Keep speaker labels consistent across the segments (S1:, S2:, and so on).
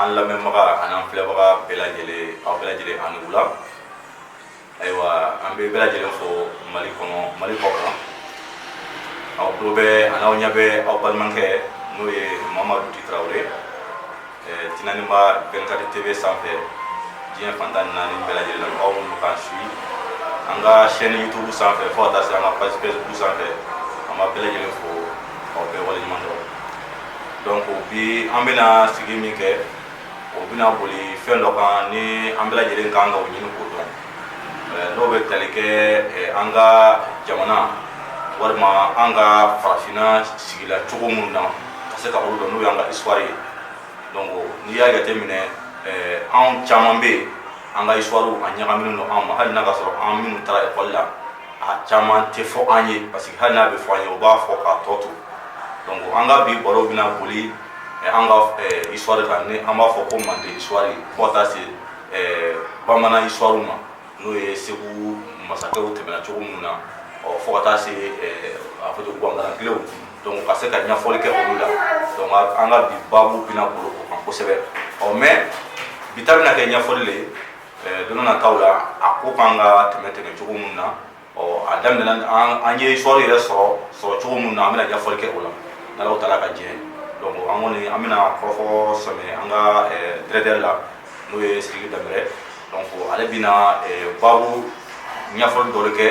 S1: an lamɛnbaga ani an filɛbaga bɛɛ lajɛlen aw bɛɛ lajɛlen aw ni wula ayiwa an bɛ bɛɛ lajɛlen fo mali kɔnɔ mali kɔ kan aw tulo bɛ ani aw ɲɛ bɛ aw balimakɛ n'o ye mamadu di tarawele tinaniba vingt-quatre tv sanfɛ diɲɛ fan tan ni naani bɛɛ lajɛlen la aw minnu k'an suit an ka chaîne youtube sanfɛ fo ka taa se an ka page facebook sanfɛ an b'a bɛɛ lajɛlen fo aw bɛɛ waleɲuman dɔn donc bi an bɛna sigi min kɛ o bɛna boli fɛn dɔ kan ni an bɛɛ lajɛlen kan ka o ɲini k'o dɔn n'o bɛ tali kɛ an ka jamana walima an ka farafinna sigila cogo minnu na ka se ka olu dɔn n'o y'an ka histoire ye donc n'i y'a jateminɛ anw caman bɛ yen an ka histoire a ɲagaminen don an ma hali n'a ka sɔrɔ an minnu taara ekɔli la a caman tɛ fɔ an ye parce que hali n'a bɛ fɔ an ye o b'a fɔ k'a tɔ to donc an ka bi baro bɛna boli eh, an ka eh, histoire kan ni an b'a fɔ ko mande histoire fo ka taa se eh, bamanan histoire ma n'o ye segu masakɛw tɛmɛna cogo minnu na ɔ fo ka taa se a fɔ to guwangalankilew donc ka se ka ɲɛfɔli kɛ olu la donc an ka bi baabu bɛna boli o kan kosɛbɛ ɔ mais bi ta bɛna kɛ ɲɛfɔli le ye don nataw la a ko kan ka tɛmɛ tɛmɛ cogo min na ɔ a daminɛna an ye histoire yɛrɛ sɔrɔ sɔrɔ cogo min na an bɛna ɲɛfɔli kɛ o la n'alahu taala ka diɲɛ donc an kɔni an bɛna kɔrɔfɔ sɛmɛ an ka directeur la n'o ye sidiki danbɛlɛ donc ale bɛna baabu ɲɛfɔli dɔ de kɛ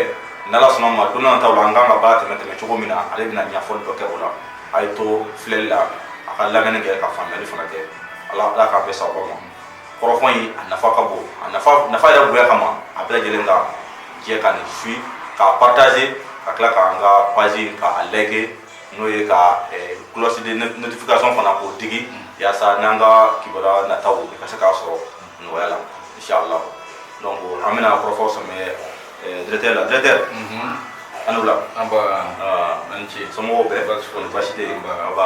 S1: n'ala sɔnn'a ma don nataw la an kan ka baara tɛmɛ tɛmɛ cogo min na ale bɛna ɲɛfɔli dɔ kɛ o la a ye to filɛli la a ka lamɛnni kɛ ka faamuyali fana kɛ ala ala k'a bɛn sababu ma kɔrɔfɔ in a nafa ka bon a nafa nafa yɛrɛ bonya kama a bɛɛ lajɛlen ka jɛ ka nin fi k'a partager ka tila k'an ka page in k'a liker n'o ye ka cloche de notification fana k'o digi yaasa n'an ka kibaruya nataw i ka se k'a sɔrɔ nɔgɔya la inshallah donc an bɛna kɔrɔfɔ sɛmɛ directeur la directeur aw ni wula nba aw ni ce somɔgɔw bɛ di baasi foyi baasi tɛ yen nba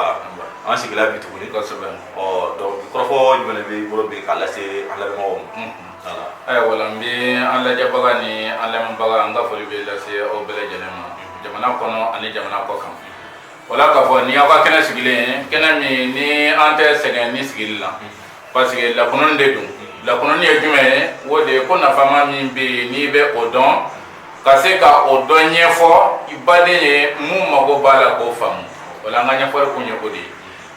S1: an sigila bi tuguni kosɛbɛ ɔ donc kɔrɔfɔ jumɛn de b'i bolo bi k'a lase an lamɛnbagaw ma ayiwa o la n
S2: bɛ an lajɛbaga ni an lamɛnbaga an ka foli bɛ lase aw bɛɛ lajɛlen ma jamana kɔnɔ ani jamana kɔ kan o la k'a fɔ ni aw ka kɛnɛ sigilen kɛnɛ min ni an tɛ sɛgɛn nin sigili la parce que lakununni de don lakununni ye jumɛn ye o de ye ko nafama min bɛ yen n'i bɛ o dɔn ka se ka o dɔn ɲɛfɔ i baden ye min mago b'a la k'o faamu o la an ka ɲɛfɔli kun ye o de ye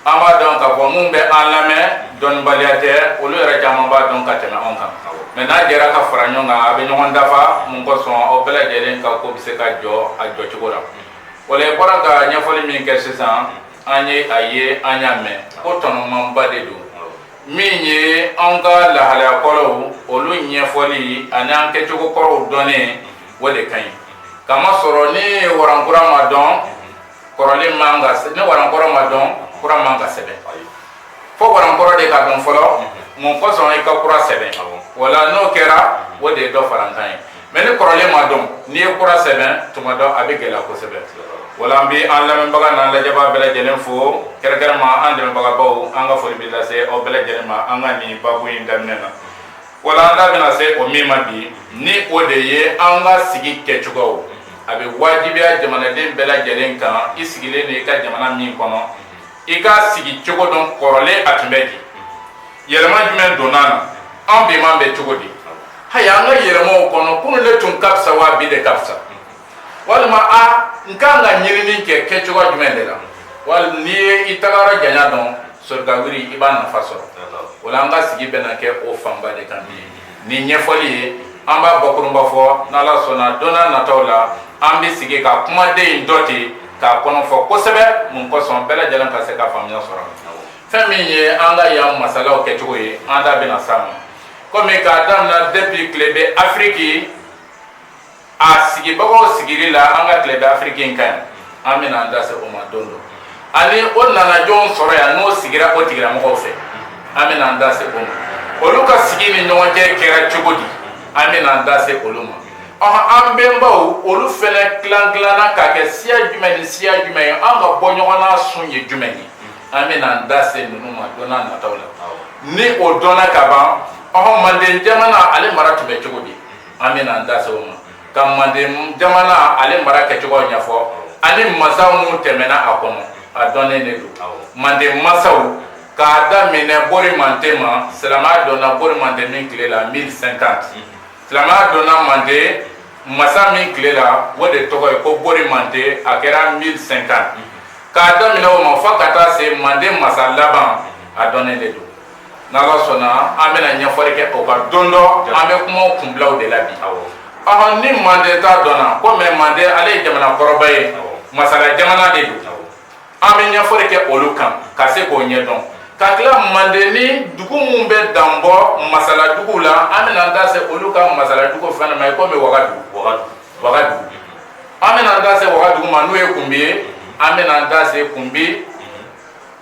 S2: an b'a dɔn k'a fɔ minnu bɛ an lamɛn dɔnnibaliya tɛ olu yɛrɛ caman b'a dɔn ka tɛmɛ anw kan mais n'an jɛra ka fara ɲɔgɔn kan a bɛ ɲɔgɔn dafa min kosɔn aw bɛɛ lajɛlen ka ko bɛ se ka jɔ a jɔcogo la o la i bɔra ka ɲɛfɔli min kɛ sisan an ye a ye an y'a mɛn ko tɔnɔmanba de don min ye an ka lahalaya kɔrɔw olu ɲɛfɔli ani an kɛcogo kɔrɔw dɔnnen o de ka ɲi k'a masɔrɔ ni warankura ma dɔn kɔrɔlen man ka ni warankɔrɔ ma dɔn kura man ka sɛbɛn fo warankɔrɔ de ka dɔn fɔlɔ mun kosɔn i ka kura sɛbɛn wala n'o kɛra o de ye dɔ farankan ye mɛ ni kɔrɔlen ma dɔn n'i ye kura sɛbɛn tuma dɔ a bɛ gɛlɛya kosɛbɛ wala an bɛ an lamɛnbaga n'an lajɛbaga bɛɛ lajɛlen fo kɛrɛnkɛrɛnma an dɛmɛbagabaw an ka foli bɛ lase aw bɛɛ lajɛlen ma an ka nin baabu in daminɛ na wala an da bɛna se o min ma bi ni o de ye an ka sigi kɛcogow a bɛ wajibiya jamanaden bɛɛ lajɛlen kan i sigilen de i ka jamana min kɔnɔ i k'a sigicogo dɔn kɔrɔlen a tun bɛ di yɛlɛma jumɛn donna na an biman bɛ cogo di haya an ka yɛlɛmaw kɔnɔ kunun de tun ka fisa wa bi de ka fisa walima an ka kan ka ɲinini kɛ kɛcogo jumɛn de la wala n'i ye i tagara janya dɔn soli ka wuli i b'a nafa sɔrɔ o la an ka sigi bɛna kɛ o fanba de kan bi nin ɲɛfɔli ye an b'a bakurunba fɔ n' Ala sɔnna don n'a nataw la an bɛ sigi ka kumaden in dɔ ta k'a kɔnɔ fɔ kosɛbɛ mun kosɔn bɛɛ lajɛlen ka se ka faamuya sɔrɔ fɛn min ye an ka yan masalaw kɛcogo ye an da bɛna s'a ma komi k'a daminɛ depuis tilebin Afiriki a sigibagaw sigili la an ka tilebin afiriki in kan an bɛna an da se o ma don dɔ ani o nana jɔn sɔrɔ yan n'o sigira o tigilamɔgɔw fɛ an bɛna an da se o ma olu ka sigi ni ɲɔgɔn cɛ kɛra cogo di an bɛna an da se olu ma ɔhɔn an bɛnbaw olu fɛnɛ tilan tilanna k'a kɛ siya jumɛn ni siya jumɛn ye an ka bɔ ɲɔgɔn na sun ye jumɛn ye an bɛna an da se ninnu ma don n'a nataw la ni o dɔnna ka ban ɔhɔn manden jamana ale mara tun bɛ cogo di an bɛna an da se o ma ka manden jamana ale mara kɛcogo ɲɛfɔ ani masaw minnu tɛmɛna a kɔnɔ a dɔnnen de don manden masaw k'a daminɛ bori manden ma silamɛya donna bori manden min tile la 1050 silamɛya donna manden masa min tile la o de tɔgɔ ye ko bori manden a kɛra 1050 k'a daminɛ o ma fo ka taa se manden masa laban a dɔnnen de don n' ala sɔnna an bɛna ɲɛfɔli kɛ o kan don dɔ an bɛ kuma kunbilaw de la bi ɔ ni manden ta dɔnna komi manden ale ye jamana kɔrɔba ye masala jamana de don an bɛ ɲɛfɔli kɛ olu kan ka se k'o ɲɛ dɔn ka tila manden ni dugu minnu bɛ dan bɔ masaladugu la an bɛna an da se olu ka masaladugu fana ma komi wagadu wagadugu an bɛna an da se wagadugu ma n'o ye kunbi ye an bɛna an da se kunbi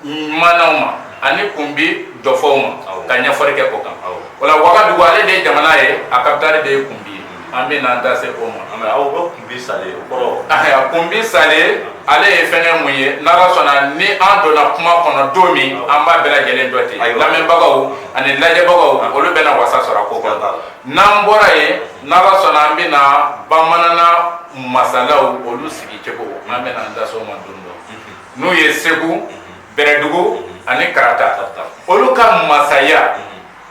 S2: manaw ma ani kunbi jɔfɔw ma ka ɲɛfɔli kɛ o kan o la wagadugu ale de ye jamana ye a kapitali de ye kunbi ye an bɛna an da se o ma aw bɛ kunbi sale
S1: o kɔrɔ kunbi sale
S2: ale ye fɛnkɛ mun ye n'ala sɔnna ni an donna kuma kɔnɔ don min an b'a bɛɛ lajɛlen dɔ ten lamɛnbagaw ani lajɛbagaw olu bɛna wasa sɔrɔ ko kan n'an bɔra yen n'ala sɔnna an bɛna bamanana masalaw olu sigicogo an bɛna an da se o ma don dɔ n'o ye segu bɛrɛdugu ani karata olu ka masaya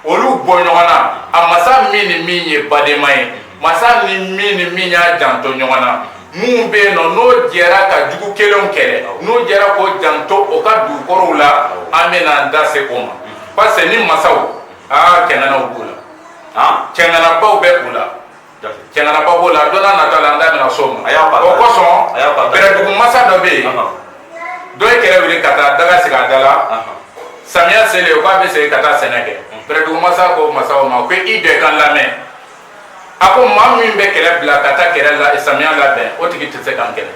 S2: olu bɔ ɲɔgɔn na a masa min ni min ye badema ye masa ni min ni min y'a janto ɲɔgɔn na minnu bɛ yen nɔ n'o jɛra ka jugu kelenw kɛlɛ n'o jɛra k'o janto o ka dugukolow la an bɛna an da se o ma parce que ni masaw aa cɛŋanaw b'u la cɛŋanabaw bɛ u la cɛŋanaba b'o la don nata la an da bɛna s'o ma o kosɔn bɛrɛdugu masa dɔ bɛ yen dɔ ye kɛlɛ wuli ka taa daga sigi a da la samiya selen o k'a bɛ segin ka taa sɛnɛ kɛ bɛrɛdugu masa ko masaw ma ko i bɛɛ k'an lamɛn a ko maa min bɛ kɛlɛ bila ka taa kɛlɛ la samiya labɛn o tigi tɛ se k'an kɛlɛ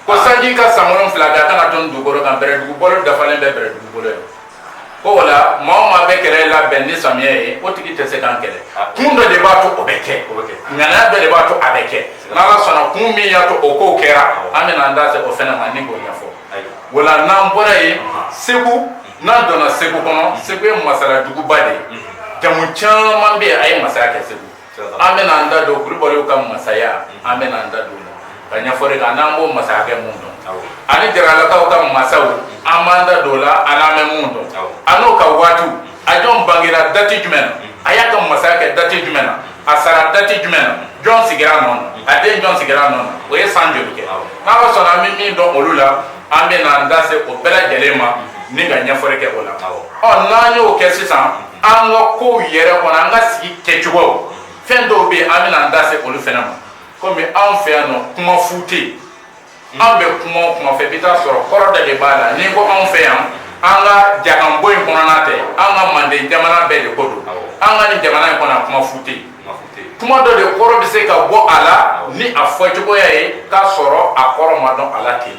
S2: ko sanji ka san wolonwula kɛ a kana to dugukolo kan bɛrɛdugu balo dafalen bɛ bɛrɛdugu bolo yan ko o la maa o maa bɛ kɛlɛ labɛn ni samiya ye o tigi tɛ se k'an kɛlɛ kun dɔ de b'a to o bɛ kɛ ŋaniya dɔ de b'a to a bɛ kɛ n'ala sɔnna kun min y'a to o kow kɛra an bɛna an da se o fɛnɛ ma ni k'o ɲɛfɔ o la n'an bɔra yen segu n'an donna segu kɔnɔ segu ye masala duguba de ye jamu caman bɛ yen a ye masaya kɛ segu an bɛna an da don kulubaliw ka masaya an bɛna an da don o la ka ɲɛfɔli kan n'an b'o masaya kɛ mun dɔn ani jaralakaw ka masaw an b'an da don o la an n'an bɛ mun dɔn a n'o ka waatiw a jɔn bangera dati jumɛn na a y'a ka masaya kɛ dati jumɛn na a sara dati jumɛn na jɔn sigira nɔ na a den jɔn sigira nɔ na o ye san joli kɛ n'ala sɔnna an bɛ min dɔn olu la an bɛna an da se o bɛɛ lajɛlen ma ni ka ɲɛfɔli kɛ o la ɔ n'an y'o kɛ sisan an ka kow yɛrɛ kɔnɔ an ka sigi kɛcogo fɛn dɔw bɛ yen an bɛna an da se olu fɛnɛ ma komi anw fɛ yan nɔ kuma fu tɛ yen an bɛ kuma o kuma fɔ i bɛ taa sɔrɔ kɔrɔ dɔ de b'a la n'i ko anw fɛ yan an ka jakanbo in kɔnɔna tɛ an ka manden jamana bɛɛ de ko don an ka nin jamana in kɔnɔ kuma fu tɛ yen kuma dɔ de kɔrɔ bɛ se ka bɔ a la ni a fɔcogoya ye k'a sɔrɔ a kɔrɔ ma dɔn a la ten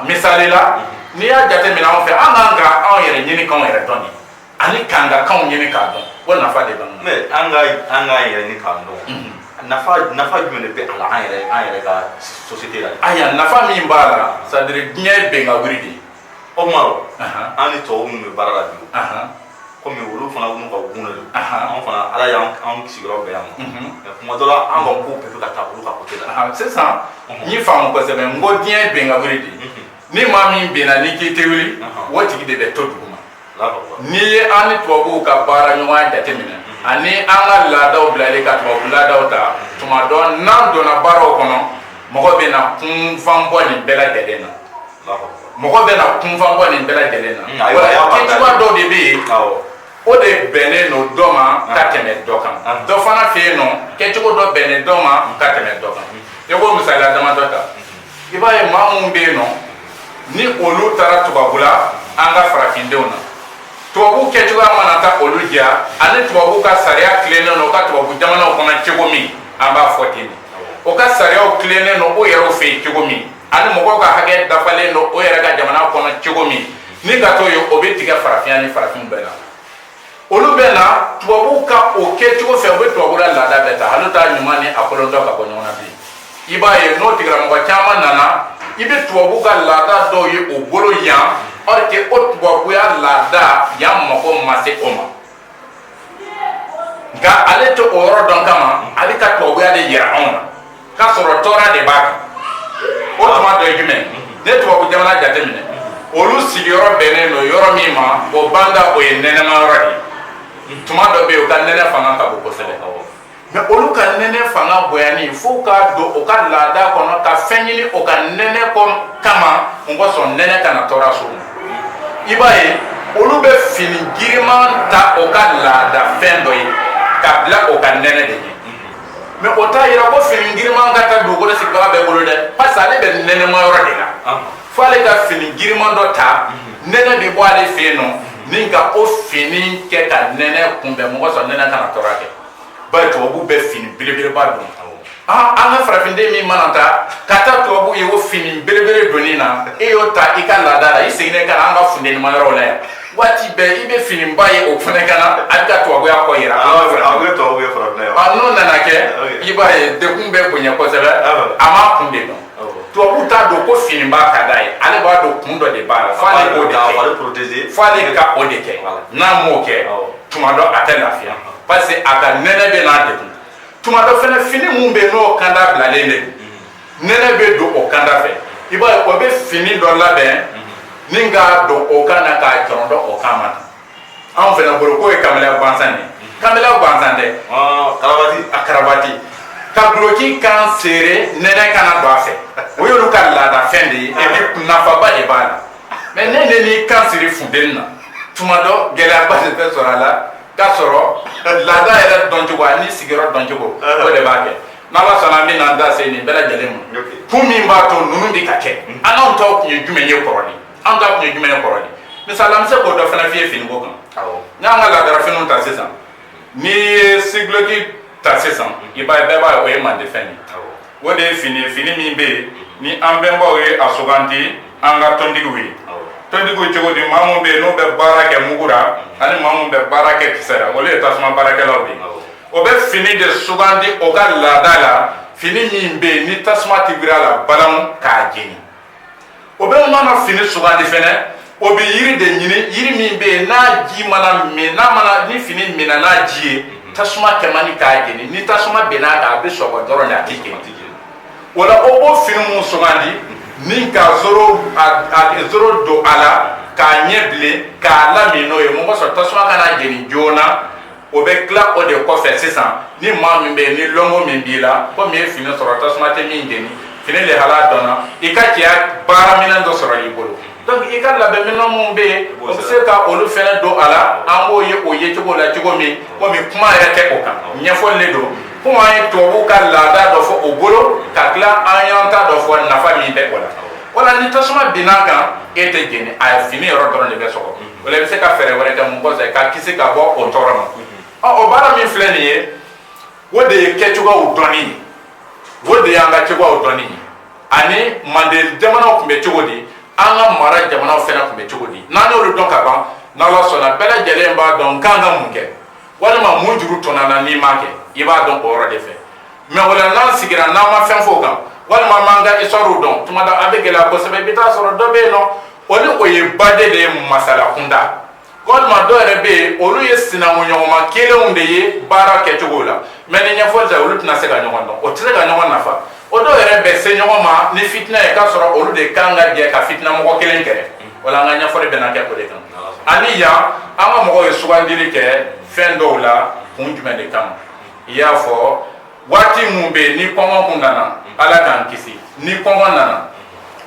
S2: misali la n'i y'a jateminɛ anw fɛ an k'an ka anw yɛrɛ ɲini k'anw yɛrɛ dɔn nin ani k'an ka kanw ɲini k'a dɔn o nafa de b'an na mais an ka
S1: an k'an yɛrɛ ɲini k'an dɔn mhm. nafa nafa jumɛn de bɛ a la an yɛrɛ an yɛrɛ ka société la ayiwa nafa min b'a
S2: la c'est à dire diɲɛ ye bɛnkan wuli de ye
S1: Omaro an ni tubabu minnu bɛ baara la bi kɔmi olu fana n'u ka gun don anw fana ala y'an sigiyɔrɔ bɛn yan ma kuma dɔ la an ka ko bɛɛ bɛ ka taa olu ka côté la sisan n
S2: y'i faamu kosɛbɛ n ko diɲɛ ye bin ka wuli de ye ni maa min binna ni k'i tɛ wuli o tigi de bɛ to dugu ma n'i ye an ni tubabuw ka baara ɲɔgɔnya jateminɛ ani an ka laadaw bilali ka tubabu laadaw ta tuma dɔ n'an donna baaraw kɔnɔ mɔgɔ bɛ na kunfanbɔ nin bɛɛ lajɛlen na mɔgɔ bɛ na kunfanbɔ nin bɛɛ lajɛlen na mm, kɛcogoya dɔw de bɛ yen o de bɛnnen don dɔ ma ah. ka tɛmɛ dɔ kan ah. dɔ fana fɛ yen nɔ kɛcogo dɔ bɛnnen dɔ ma ka tɛmɛ dɔ kan mm. i ko misaliya damadɔ ta mm. i b'a ye maa minnu bɛ yen nɔ ni olu taara tubabula an ka farafindenw na tubabu kɛcogoya mana taa olu diya ani tubabu ka sariya tilennen don o ka tubabu jamanaw kɔnɔ cogo min an b'a fɔ ten o ka sariyaw tilennen don o yɛrɛw fɛ yen cogo min ani mɔgɔw ka hakɛ dafalen don o yɛrɛ ka jamana kɔnɔ cogo min ni ka t'o ye o bɛ tigɛ farafinya ni farafin bɛɛ la olu bɛ na tubabu ka o kɛcogo fɛ u bɛ tubabula laada bɛɛ ta hali u t'a ɲuman ni a kolon dɔn ka bɔ ɲɔgɔn na bi i b'a ye n'o tigilamɔgɔ caman nana i bɛ tubabu ka laada dɔw ye o bolo yan or que o tubabuya laada yan mako ma se o ma nka ale tɛ o yɔrɔ dɔn kama ale ka tubabuya de yira anw na k'a sɔrɔ tɔɔrɔ de b'a kan o tuma dɔ ye jumɛn n'i ye tubabu jamana jateminɛ olu sigiyɔrɔ bɛnnen don yɔrɔ min ma o banda o ye nɛnɛma yɔrɔ de ye tuma dɔ bɛ yen u ka nɛnɛ fanga ka bon kosɛbɛ mais olu ka nɛnɛ fanga bonyani fo u k'a don u ka laada kɔnɔ ka fɛn ɲini o ka nɛnɛ kɔn kama mun kosɔn nɛnɛ kana tɔɔrɔ s'o ma i b'a ye olu bɛ fini giriman ta o ka laada fɛn dɔ ye ka bila o ka nɛnɛ de ye mais o t'a yira ko fini giriman ka taa dugukolo sigibaga bɛɛ bolo dɛ parce que ale bɛ nɛnɛma yɔrɔ de la ah. fo ale ka fini giriman dɔ ta mhm. nɛnɛ bɛ bɔ ale fɛ yen nɔ mhm. ni ka o fini kɛ ka nɛnɛ kunbɛn mun kosɔn nɛnɛ kana tɔɔrɔ kɛ bari tubabu bɛ fini belebeleba don ah, an ka farafinden min mana taa ka taa tubabu ye o fini belebele donni na e y'o ta i ka laada la i seginnen ka na an ka funtenima yɔrɔ la yan waati bɛɛ i bɛ finiba ye o fana kan na a bɛ ka tubabuya ko yira n'o nana kɛ i b'a ye degun bɛ bonya kosɛbɛ a m'a kun de dɔn tubabu t'a don ko finiba ka d'a ye ale b'a don kun dɔ de b'a la f'ale k'o de kɛ f'ale ka o de kɛ n'a m'o kɛ tuma dɔ a tɛ lafiya parce que a ka nɛnɛ bɛ n'a degun tuma dɔ fana fini min bɛ yen n'o kanda bilalen de don nɛnɛ bɛ don o kanda fɛ i b'a ye o bɛ fini dɔ labɛn ni k'a don o kan na k'a cɔrɔn don o kan na anw fɛnɛ bolo k'o ye kamalen gansan de kamalen gansan tɛ a karabati ka duloki kan serrer nɛnɛ kana don a fɛ o y'olu ka laadafɛn de ye et puis nafaba de b'a la mais ne ne n'i kan siri funteni na tuma dɔ gɛlɛyaba de bɛ sɔrɔ a la k'a sɔrɔ laada yɛrɛ dɔncogo ani sigiyɔrɔ dɔncogo o de b'a kɛ N' ala sɔnna an bɛ n'an da se nin bɛɛ lajɛlen ma kun min b'a to ninnu bɛ ka kɛ mm. an anw taw tun ye jumɛn ye kɔrɔlen an ta tun ye jumɛn ye kɔrɔlen misali an bɛ se k'o dɔ fana f'i ye finiko kan n'an ka laadara finiw ta sisan n'i ye sigiduloki ta sisan mm. i b'a ye bɛɛ b'a ye o ye mande fɛn ye o de ye fini min bɛ yen mm. ni an bɛnbaw ye a sugandi an ka tontigiw ye tontigiw cogo di maa minnu bɛ yen n'u bɛ baara kɛ mugu la ani maa minnu bɛ baara kɛ kisɛ la olu ye tasuma baarakɛlaw de ye o bɛ fini de sugandi o ka laada la fini min bɛ yen ni tasuma tɛ biri a la balamu k'a jeni o bɛ mana fini sugandi fɛnɛ o bɛ yiri de ɲini yiri min bɛ yen n'a ji mana min ni fini minna n'a ji ye tasuma kɛ man di k'a jeni ni tasuma binna a kan a bɛ sɔgɔ dɔrɔn de a tɛ jeni o la o b'o fini min sugandi ni ka zoro don a la k'a ɲɛ bilen k'a lamin n'o ye masɔrɔ tasuma kan'a jeni joona o bɛ tila o de kɔfɛ sisan ni maa min bɛ yen ni lɔnko min b'i la komi i ye fini sɔrɔ tasuma tɛ min jeni fini lahala dɔnna i ka cɛya baara minɛn dɔ sɔrɔ i bolo donc i ka labɛn minɛn minnu bɛ yen o bɛ se ka olu fɛnɛ don a la an b'o ye o ye cogo la cogo min komi kuma yɛrɛ tɛ o kan ɲɛfɔli le don komi an ye tubabuw ka laada dɔ fɔ o bolo ka tila an y'an ta dɔ fɔ nafa min bɛ o la wala ni tasuma binn'a kan e tɛ jeni a fini yɔrɔ dɔrɔn de bɛ sɔgɔ o la i bɛ se ka fɛɛrɛ wɛrɛ kɛ mun kɔfɛ ka kisi ka bɔ o tɔɔrɔ ma ɔ o baara min filɛ nin ye o de ye kɛcogoyaw dɔnni ye o de y'an ka cogoyaw dɔnni ye ani manden jamanaw tun bɛ cogo di an ka mara jamanaw fɛnɛ tun bɛ cogo di n'an y'olu dɔn ka ban n'Ala sɔnna bɛɛ lajɛlen b'a dɔn k'an ka mun kɛ walima mun juru tɔnna na n'i m'a kɛ i b'a dɔn o yɔrɔ de fɛ mais o la n'an sigira n'an ma fɛn f'o kan walima an m'an ka histoire dɔn tuma dɔ a bɛ gɛlɛya kosɛbɛ i bɛ taa sɔrɔ dɔ bɛ yen nɔ o ni o ye baden de ye masala kunda walima dɔ yɛrɛ bɛ yen olu ye sinankunɲɔgɔnma kelenw de ye baara kɛcogo la mais ni ɲɛfɔli tɛ olu tɛna se ka ɲɔgɔn dɔn o tɛ se ka ɲɔgɔn nafa o dɔw yɛrɛ bɛ se ɲɔgɔn ma ni fitina ye k'a sɔrɔ olu de kan ka jɛ ka fitina mɔgɔ kelen kɛrɛ wala an ka ɲɛfɔli bɛna kɛ o de kan ani yan an ka mɔgɔw ye sugandili kɛ fɛn dɔw la kun jumɛn de kama i y'a fɔ waati min bɛ yen ni kɔngɔ kun nana ala k'an kisi ni kɔngɔ nana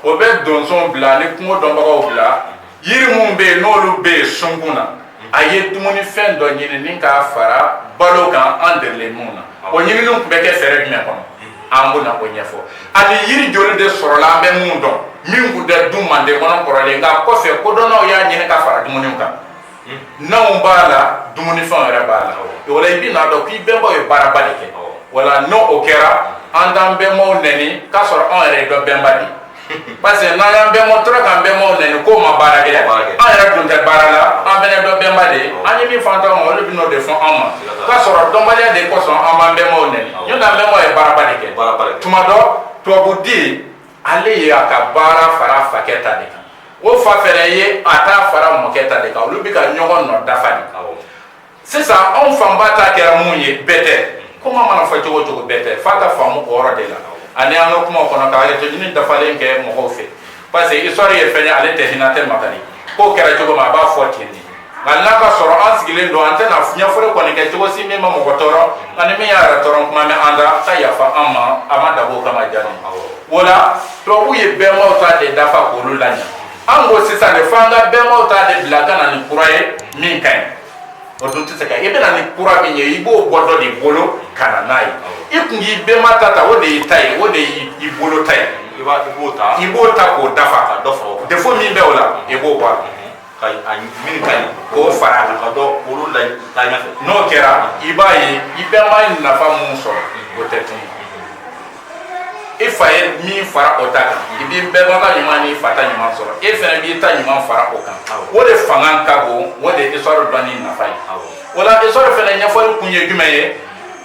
S2: o bɛ donsow bila ni kungo dɔnbagaw bila Yiri minnu bɛ yen n'olu bɛ yen sunkun na a ye dumunifɛn dɔ ɲini ni k'a fara balo kan an delilen minnu na o ɲinini tun bɛ kɛ fɛɛrɛ jumɛn kɔnɔ an bɛna o ɲɛfɔ ani yiri joli de sɔrɔla an bɛ minnu dɔn min tun tɛ dun manden kɔnɔ kɔrɔlen nka kɔfɛ kodɔnnaw y'a ɲini ka fara dumuni kan naw b'a la dumunifɛnw yɛrɛ b'a la o la i bɛn'a dɔn k'i bɛnbaw ye baaraba de kɛ wala n'o o kɛra an t'an bɛnbaw nɛni k'a sɔrɔ anw yɛrɛ ye dɔ bɛnba de parce que n'an y'an bɛnbaw tɔɔrɔ k'an bɛnbaw nɛni k'o ma baara kɛ an yɛrɛ dun tɛ baara la an fɛnɛ dɔ bɛnba de ye an ye min fɔ an taw ma olu bɛn'o de fɔ an ma k'a sɔrɔ dɔnbaliya de kosɔn an b'an bɛnbaw nɛni n'o tɛ an bɛnbaw ye baaraba de kɛ tuma dɔ tubabuden ale ye a ka baara fara a fakɛ ta de kan o fa fɛnɛ ye a ta fara mɔkɛ ta de kan olu bɛ ka ɲɔgɔn nɔ dafa de sisan anw fanba ta kɛra mun ye bɛɛ tɛ kuma mana fɔ cogo o cogo bɛɛ tɛ f'a ka faamu o yɔrɔ de la ani an ka kuma kɔnɔ ka hakɛto ɲini dafalen kɛ mɔgɔw fɛ parce que histoire ye fɛn ye ale tɛ hinɛ tɛ makari ko kɛra cogo min a b'a fɔ ten de nka n'a ka sɔrɔ an sigilen don an tɛna ɲɛfɔli kɔni kɛ cogo si min ma mɔgɔ tɔɔrɔ ani min y'a yɛrɛ tɔɔrɔ kuma mɛn an da ka yafa an ma a ma dabɔ o kama jamais o la tubabuw ye bɛnbaw ta de dafa k'olu laɲɛ an ko sisan de fo an ka bɛnbaw ta de bila ka na ni kura ye min ka ɲi o dun tɛ se ka i bɛ na ni kura min ye i b'o bɔ dɔ de bolo ka na n'a ye i kun k'i bɛnba ta ta o de y'i ta ye o de y'i bolo ta ye i b'o ta i b'o ta k'o dafa ka dɔ fɔ défaut min bɛ o la i b'o bɔ a la ka a
S1: min ka ɲi k'o fara a kan
S2: ka dɔ olu
S1: lataa ɲɛfɛ n'o kɛra i
S2: b'a ye i bɛnba ye nafa mun sɔrɔ o tɛ tunu i fa ye min fara o ta kan i b'i bɛnba ka ɲuman n'i fa ta ɲuman sɔrɔ e fɛnɛ b'i ta ɲuman fara o kan o de fanga ka bon o de ye histoire dɔnni nafa ye o la histoire fɛnɛ ɲɛfɔli kun ye jumɛn ye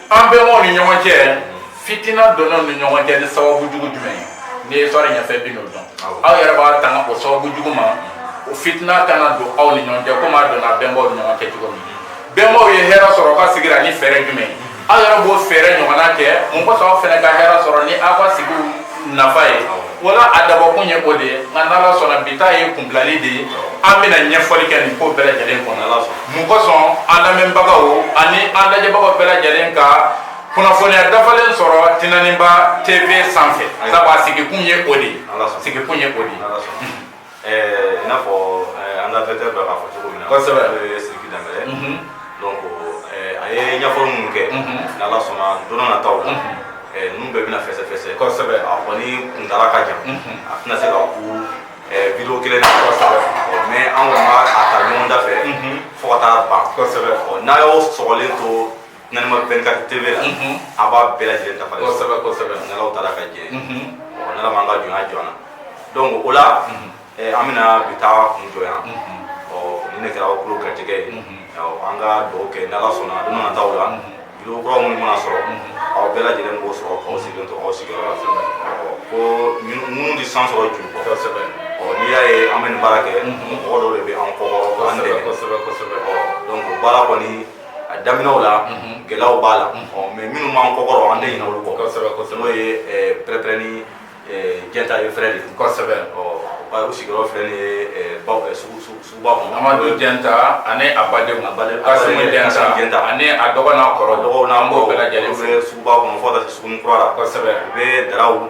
S2: an bɛnbaw ni ɲɔgɔn cɛ fitina donna ni ɲɔgɔn cɛ ni sababu jugu jumɛn ye ni histoire ɲɛfɔ bi n'o dɔn aw yɛrɛ b'a tanga o sababu jugu ma o fitina kana don aw ni ɲɔgɔn cɛ komi a donna bɛnbaw ni ɲɔgɔn cɛ cogo min bɛnbaw ye hɛrɛ sɔrɔ ka sigira ni fɛɛrɛ jumɛn ye aw yɛrɛ b'o fɛɛrɛ ɲɔgɔnna kɛ mun kosɔn aw fɛnɛ ka hɛrɛ sɔrɔ ni aw ka sigi nafa ye wala a dabɔkun ye o de ye nka n'ala sɔnna bi ta ye kunbilali de ye an bɛna ɲɛfɔli kɛ nin ko bɛɛ lajɛlen kɔnɔ mun kosɔn an lamɛnbagaw ani an lajɛbagaw bɛɛ lajɛlen ka kunnafoniya dafalen sɔrɔ tinaniba tv sanfɛ sabu a sigikun ye o de ye sigikun ye o de ye Ɛɛ i n'a
S1: fɔ an ka directeur bɛ k'a fɔ cogo min na kosɛbɛ n'o ye
S2: Sidiki
S1: Dɛmbɛlɛ ye donc a ye ɲɛfɔli minnu kɛ n'Ala sɔnna don n'a nataw la ninnu bɛɛ bɛna fɛsɛfɛsɛ kosɛbɛ a
S2: kɔni
S1: kuntaala ka jan a tɛna se ka kun video kelen na kosɛbɛ mais an kɔni b'a ta ɲɔgɔn da fɛ fo ka taa ban kosɛbɛ n'a y'aw sɔgɔlen to N ma bɛn ka te la a b'a bɛɛ lajɛlen dafa kosɛbɛ kosɛbɛ
S2: nana taara ka
S1: jɛ n'ala m'an ka jɔnya jɔ an na donc o la an bɛna bi ta kun jɔ yan ɔ ni ne kɛra kulu garijɛgɛ ye an ka dugawu kɛ ni ala sɔnna don nataw la vidéo kura minnu mana sɔrɔ aw bɛɛ lajɛlen b'o sɔrɔ k'aw sigilen to aw sigiyɔrɔ la ko minnu de san sɔrɔ ju kosɛbɛ ɔ n'i y'a ye an bɛ nin baara kɛ mɔgɔ dɔw de bɛ an kɔ baara kɔni a daminɛw la gɛlɛyaw b'a la mais minnu b'an kɔkɔrɔ an tɛ ɲinɛ olu kɔ n'o ye Pɛrɛpɛrɛni Jɛnta et frères de kosɛbɛ u sigiyɔrɔ filɛ nin ye suguba kɔnɔ Amadu
S2: Jɛnta ani a badenw a badenw Kasimu Jɛnta Jɛnta ani a dɔgɔ n'a kɔrɔ dɔgɔw n'an b'o bɛɛ lajɛlen fo suguba kɔnɔ fo ka
S1: taa se suguni kura la kosɛbɛ u bɛ daraw